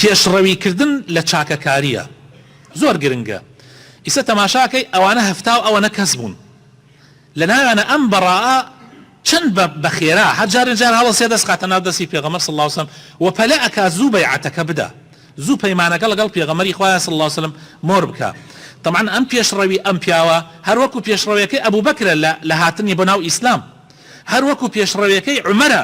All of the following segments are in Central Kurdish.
پێشڕەویکردن لە چاکەکارییە زۆر گرنگە ئیسە تەماشاکەی ئەوانە هەفتاو ئەوەنە کەس بوون لە ناویانە ئەم بەڕائە چەند بە بەخێرا هەر جارێ جار هەڵە سێ دەست خاتە ناو دەستی پێغەمەر صلی اللە علیه و سلم و پەلە ئەکا زوو بەیعەتەکە بدا زوو پەیمانەکە لەگەڵ پێغەمەری خوایە صلی اللە علیه و سلم مۆر بکا طبعا ئەم پێشڕەوی ئەم پیاوە هەر وەکو پێشڕەویەکەی ئەبو بەکرە لە لە هاتنی بۆ ناو ئیسلام هەر وەکو پێشڕەویەکەی عومەرە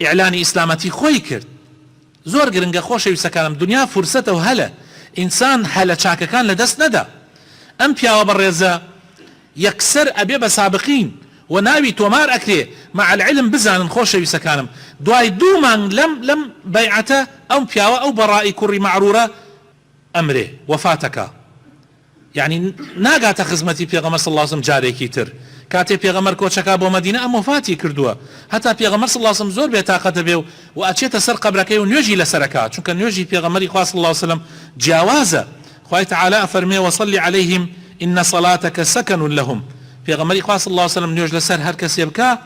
ئیعلانی ئیسلامەتی خۆی کرد. زۆر گرنگە خۆشەویستەکانم دونیا فورسەتە و هەلە ئینسان هەلە چاکەکان لە دەست نەدا ئەم پیاوە بەڕێزە یەکسەر ئەبێ بە سابقین و ناوی تۆمار ئەکرێ مع العلم بزانن خۆشەویستەکانم دوای دوو مانگ لەم لەم بەیعەتە ئەم پیاوە ئەو بەڕائی کوڕی مەعرورە ئەمرێ وەفاتەکا یەعنی ناگاتە خزمەتی پێغەمبەر صلی اللە علیە و سەلم جارێکی تر کاتێ پێغەمبەر کۆچەکا بۆ مەدینە ئەم وەفاتی کردووە هەتا پێغەمبەر صلی اللە علیە و سەلم زۆر بێ تاقەت دەبێ و و ئەچێتە سەر قەبرەکەی و نوێژی لەسەر ئەکا چونکە نوێژی پێغەمبەری خوا صلی اللە علیە و سەلم جیاوازە خوای تعالی ئەفەرموێ وصل علیهم ان صلاتک سکن لهم پێغەمبەری خوا صلی اللە علیە و سەلم نوێژ لەسەر هەر کەسێ بکا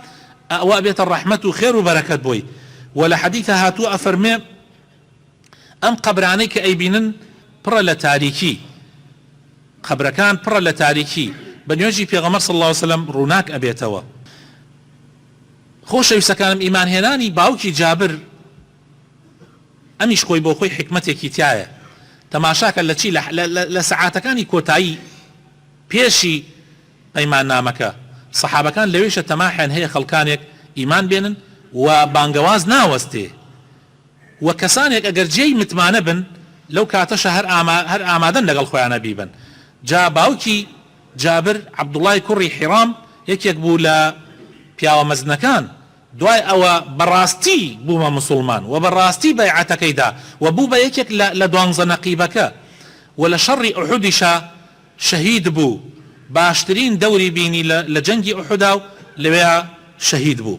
ئەوە ئەبێتە ڕەحمەت و خێر و بەرەکەت بۆی و لە حەدیثا هاتووە ئەفەرموێ ئەم قەبرانەی کە ئەیبینن پڕە لە تاریکی، قەبرەکان پڕە لە تاریکی، بە نوێژی پێغەمبەر صلی اللە علیە وسلم ڕووناک ئەبێتەوە. خۆشەویستەکانم ئیمان هێنانی باوکی جابر ئەمیش خۆی بۆ خۆی حیکمەتێکی تیایە تەماشاکە لە چی لە سەعاتەکانی کۆتایی پێشی پەیمان نامەکە سەحابەکان لەوێشە تەماحیان هەیە خەڵکانێک ئیمان بێنن و بانگەواز ناوەستێ وە کەسانێک ئەگەر جێی متمانە بن لەو کاتەشە هەر ئاما هەر ئامادەن لەگەڵ خۆیانا بیبەن جا باوکی جابر عبداللە ی کوڕی حیرام یەکێک بوو لە پیاوە مەزنەکان دوای ئەوە بەڕاستی بوومە مسوڵمان وە بەڕاستی بەیعەتەکەی دا وە بوو بە یەکێک لە لە دوانزە نەقیبەکە وە لە شەڕی ئوحودیشا شەهید بوو باشترین دەوری بینی لە لە جەنگی ئوحوداو لەوێا شەهید بوو.